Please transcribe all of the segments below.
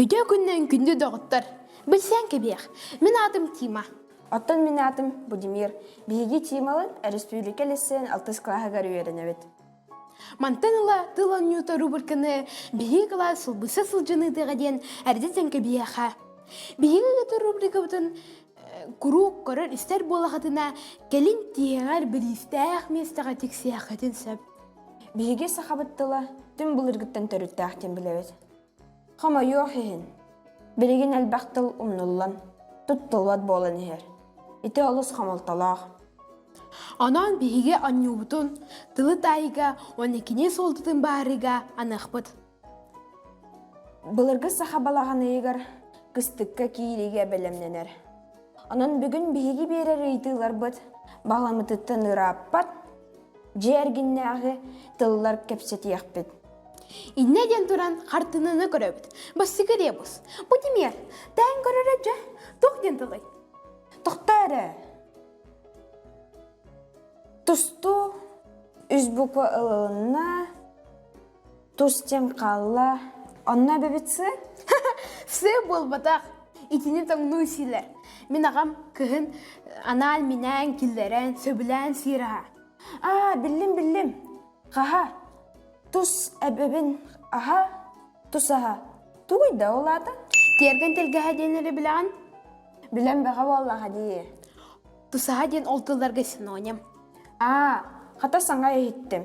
Үтүө күннэн күндү доҕоттор! Билсиэн кэбиэх, мин аатым Тима. Оттон мин аатым Будимир. Биһиги Тималар өрөспүүбүлүкэ лиссиэн алтыс кылааһыгар үөрэнэбит. Мантан ыла тыл оонньуута рубриканы биһиги кылаас сылбыса сылдьан ыытыаҕа диэн эрдэ тэҥкэбиэхэ. Биһиги ыытар рубрикабытын куруук көрөр истэр буолахытына кэлин тиһэҕэр бириистээх миэстэҕэ тиксиэххитин сөп биһиги сахабыт тыла түн былыргыттан төрүттээх диэн билэбит хомойуох иһин билигин элбэх тыл умнуллан туттуллубат буолан иһэр ити олус хомолтолоох онон биһиги онньуубутун тылы таайыга уонна кини суолтутун баарыга аныахпыт Былыргы саха балаҕаныйыгар кыстыкка киириигэ бэлэмнэнэр. Онон бүгүн биһиги биэрэр ыйытыыларбыт баҕаламмытыттан ырааппат, дьиэ эргиннээҕи тыллар кэпсэтиэхпит. Иннэ диэн туран хартыынаны көрөбүт. Бастакы ребус. Бу кимиэр? Тээн көрөрө дьэ, туох диэн тылый? Тохтоо эрэ. Тустуу үс буква ылылынна. тус дьэм хаалла онно эбэбит сыы все буолбатах итини тоҥнуу силэ мин аҕам кыһын анаал минээн киллэрэн сөбүлээн сиир аһа аа биллим биллим хаһа тус эбэбин аһа тус аһа тугуй да ол аата тиэргэн тэлгэһэ диэн эрэ билэҕин билэн бэҕэ буоллаҕа дии тусаһа диэн ол тылларга синоним аа хата саҥа иһиттим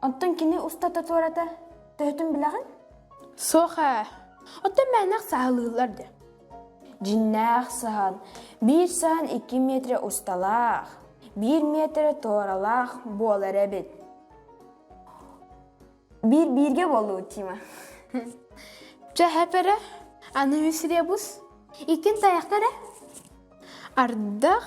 Оттон кини устата туората төһөтүн билэҕин? Суох ээ. Оттон мээнэх саһылыыллар дэ. Дьиннээх саһан биир саһан икки метрэ усталаах, биир метрэ туоралаах буолар эбит. Биир бииргэ болуу Тима. Чэ хэпере, аны мисребус, иккин таяқтаре. Ардах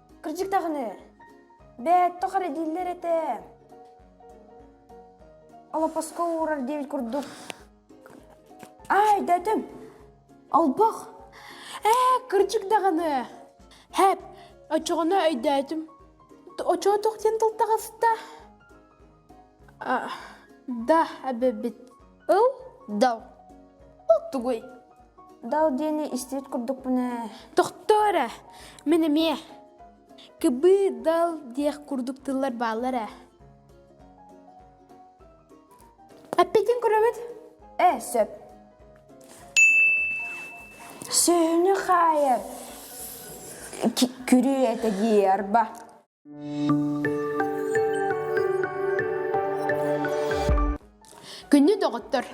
Кырдьык даҕаны, бээтто хара дииллэр этэ. Алапаска уурар диэбит курдук. Ай, дэтим, албах, ээ, кырдьык даҕаны. Һээп, оччоҕуна өйдөөтүм. Оччоҕо туох диэн тылтаҕа сыта? да эбэбит ыл дал ыл тугуй дал диэни истибит курдукпун ээ тохтоо эрэ мин эмиэ кыбы дал диэх курдук тыллар бааллар ээ эппитин көрөбүт ээ сөп сөһүнү хаайар күрүө этэ дии арба Күннү доҕоттор,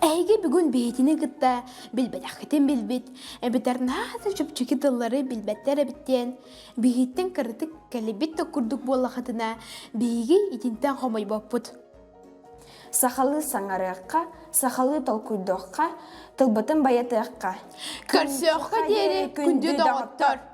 эһиги бүгүн биһитини кытта билбэтэххитин билбит, эбэтэр наада чөпчүки тыллары билбэттэр эбит диэн, биһиттэн кыратык кэлбит да курдук буоллахытына, биһиги итинтэн хомойбоппут. Сахалыы саҥарыахха, сахалыы толкуйдуохха, тылбытын байытыахха. Көрсүөххэ диэри күндү доҕоттор!